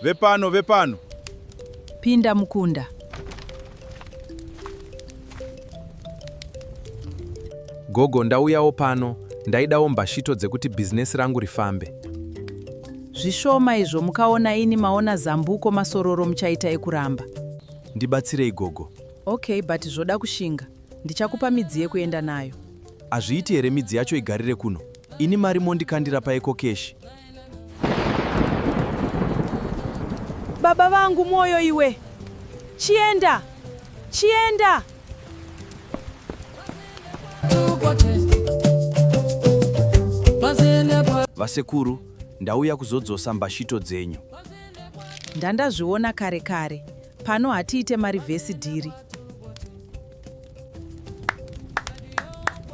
Vepano, vepano. Pinda mukunda. Gogo, ndauyawo pano. Ndaidawo mbashito dzekuti bhizinesi rangu rifambe. Zvishoma izvo mukaona ini maona zambuko masororo muchaita ekuramba. Ndibatsirei gogo. Okay, but zvoda kushinga. Ndichakupa midzi yekuenda nayo. Hazviiti here midzi yacho igarire kuno? Ini mari mondikandira paiko keshi. Baba vangu mwoyo iwe. Chienda. Chienda. Vasekuru, ndauya kuzodzosa mbashito dzenyu. Ndandazviona kare kare. Pano hatiite marivhesi dhiri.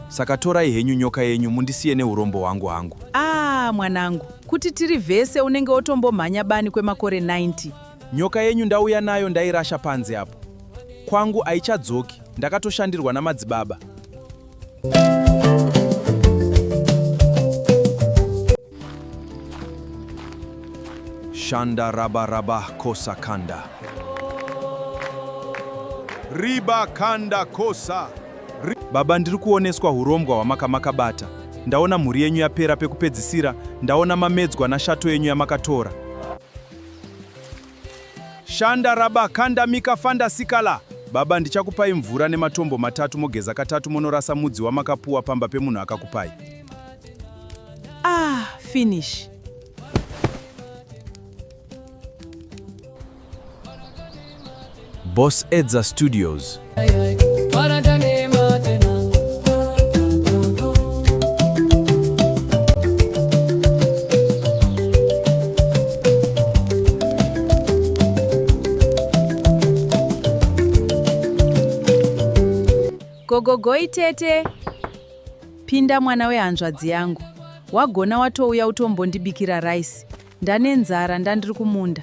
Saka torai henyu nyoka yenyu mundisiye neurombo hwangu hangu. Ah, mwanangu, kuti tiri vese unenge otombomhanya bani kwemakore 90. Nyoka yenyu ndauya nayo ndairasha panze apo. Kwangu haichadzoki, ndakatoshandirwa namadzibaba. Shanda raba raba kosa kanda. Riba kanda kosa. Baba ndiri kuoneswa hurombwa hwamaka makabata. Ndaona mhuri yenyu yapera pekupedzisira, ndaona mamedzwa nashato yenyu yamakatora. Shanda raba kanda mika fanda sikala. Baba ndichakupai mvura nematombo matatu mogeza katatu monorasa mudzi wamakapuwa pamba pemunhu akakupai. Ah, finish. Boss Edza Studios. Gogogoi tete, pinda mwana wehanzvadzi yangu. Wagona watouya utombondibikira rice. Ndane nzara ndandiri kumunda.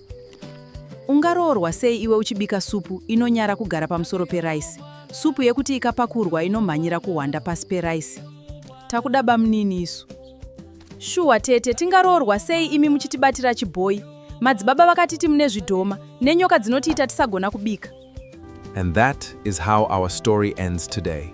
Ungaroorwa sei iwe uchibika supu inonyara kugara pamusoro peraisi? Supu yekuti ikapakurwa inomhanyira kuhwanda pasi peraisi. Takuda bamnini isu. Shuwa tete, tingaroorwa sei imi muchitibatira chibhoyi? Madzibaba vakatiti mune zvidhoma nenyoka dzinotiita tisagona kubika. And that is how our story ends today.